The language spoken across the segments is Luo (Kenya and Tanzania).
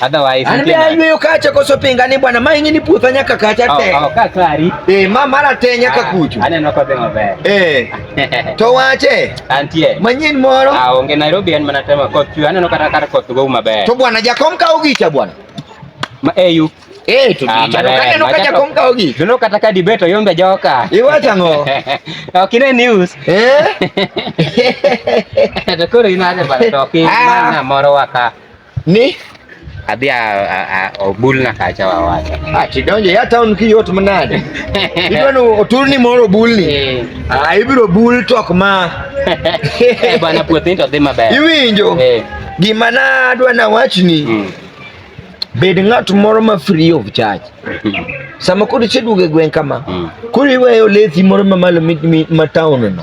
Otherwise, ani be ayweyo kacha koso pinga ni bwana maingi ni putha nyaka kacha oh, te. Oh, ka klari. Eh, ma mara te nyaka ah, kuchu. Ane no kodhe maber. Eh. To wache. Antie. Manyin moro. Ah, onge Nairobi en mana tema koth chwe. Aneno kata kar koth go maber. To bwana jakom ka ugicha bwana. Ma eyu. Eh, eh to ah, dicha. Kane no kacha kom ka ugi. Tuno kata ka dibeto yombe joka. Iwacha ngo. Okine news. Eh. To koro inaje bana to ki ah. mana moro waka. Ni adhi obulna kacha wawacha. Ah, tidonje ya town ki yot manade. Idwano oturni moro obulni. Eh. Ah, ibiro bul tok ma. Eh bana puothin to dhi maber. Iwinjo? Eh. Gima na adwa na wachni. Hmm. Bed ng'at moro ma free of charge. Sama kodi cheduoge gweng kama. Hmm. Kuri weyo lethi moro mamalo ma town no.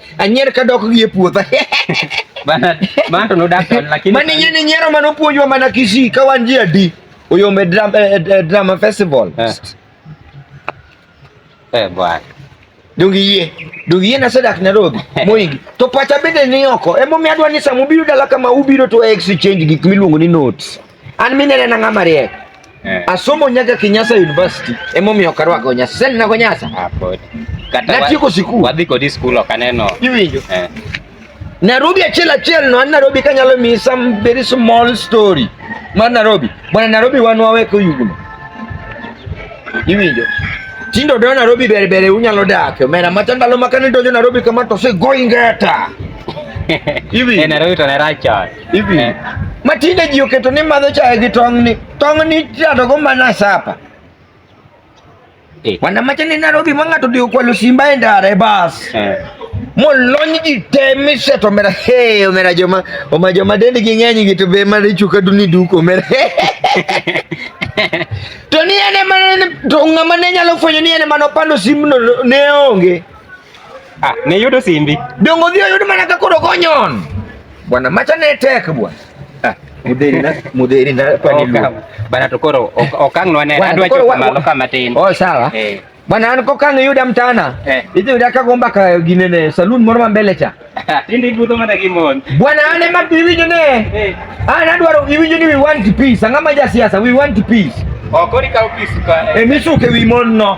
Anyer ka dok gi e puotha. Bana man to nodak to lakini Mani yini ni nyero mano puonjwa mana Kisii ka wan ji adi. Oyombe drama, eh, eh, eh, drama festival. Eh. Eh bwana. Dongi yie. Dongi yie nasedak Nairobi. Moingi. To pacha bende ni oko. Emo mi adwa ni samubiro dala kama ubiro to exchange gik miluongo ni notes. An minene na ng'ama riek. Eh. Asomo nyaka Kenyatta University emomiyo ok arwako nyasa. Sasa ninago nyasa. Ah, pod. Kata natieko sikul. Wadhi kodi sikul ok aneno. Iwinjo? Eh. Nairobi achiel achiel no, an Nairobi kanyalo miyi some very small story mar Nairobi. Bwana Nairobi wan waweko yugno. Iwinjo? Tindo do Nairobi bere bere unyalo dak. Omera mata ndalo makane donjo Nairobi kama to se go ingeta. Iwinjo? Eh, Nairobi to ne rach hivi eh. Matinde ji oketo ni madho chai gi tong' ni tong' ni tiato go mana sapa eh. Wanamacha ni Nairobi ma ng'ato dhi okwalo simba e ndara e bas eh. Molony ji te miseto omera he omera joma oma joma dendgi ng'eny gi to be mar ichuka duni duko omera to ni ene mana to ng'ama ne nyalo fwenyo ni ene mana opando simbno ne onge Ah, ne yudo simbi. Dongo dhi oyud mana ka koro konyon. Bwana macha ne tek bwana. Ah, mudheri na mudheri na pani lu. Bana to koro okang nwa ne adwa chopo malo kama tin. Oh sawa. Eh. Bwana an kokang yuda mtana. Eh. Idhi yuda ka gomba ka ginene saloon moro ma mbele cha. Tindi budho mana gi mon. Bwana an ema biwinjo ne. Eh. Ah, nadwaro iwinjo ni we want peace. Ang'ama ma jasiasa, we want peace. Okori ka peace ka. Emisuke wi mon no.